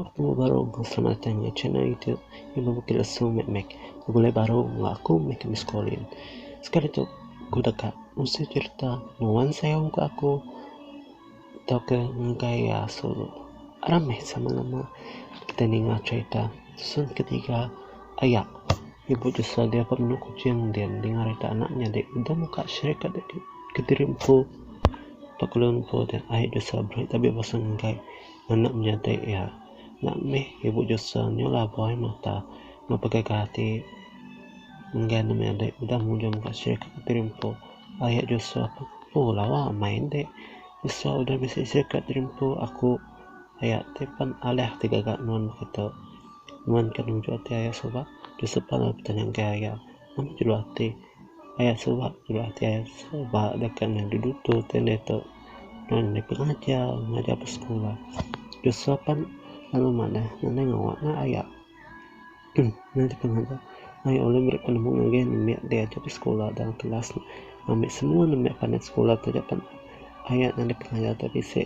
Penemu baru selamat datai mega channel youtube ngan bala bukit lesu meh meh begulai baru enggau aku meh ke miss collin sekali tu ku deka mesi cerita nuan sayau mega aku tau ke ngagai iya asu ramai sama lama kita ninga cerita season ketiga aya ibu jesau dia dapat menu kuching din ninga cerita anak nyadi udah muka syirik ka diri empu pak lun empu deh ai jesau berahi tabi basa ngagai. Anak menyadi iya enda mih ibu Josua nyulah buai mata enggau pegaga ati enggai nemu enti udah mujung ka sirih ka Kepiri Empu. Ayak Josua pun empu lawa amai enti Josua udah bisi sirih ka Kepiri Empu aku aya ti pen alih ti gaga nuan baka tu. Nuan ke nunjuk ati aya suba Josua pun lalu betanya enggai aya. Nama jelu ati. Paya suba bala ti suba deka nyadi dutur ti enda ito lalu nyadi pengajar ngajar ba sekula ke sopan lalu madah nadai ngawa anak aya nyadi pengajar aye ulih meri penemu ngagai anu mek diajar ba sekula dalam kelas ambi semua nemu mek panai sekula taja pan aya ngagai pengajar ito bisi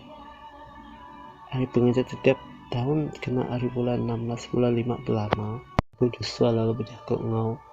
ari pengajar titip taun kena ari bulan enam belas bulan lima belama.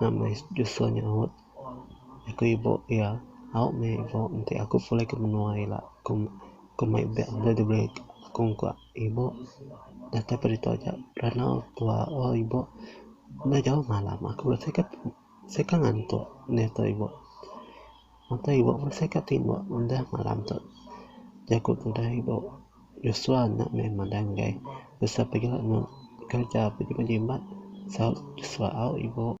Nama is Joshua nyaut, Aku ibu iya. Au meh ibu enti aku pulai ke menua ila. Aku aku mai beg enda diberi aku engku ibu. Datai pa ditu aja randau tua o ibu. Enda jauh malam aku seka seka ngantuk neh tu ibu. Udah ibuh masih ka timbuk udah malam tu jaku tudah ibuh Joshua enda meh madah enggai Joshua pagi ila nemu kerja pagi pagi jimat saut Joshua au ibuh.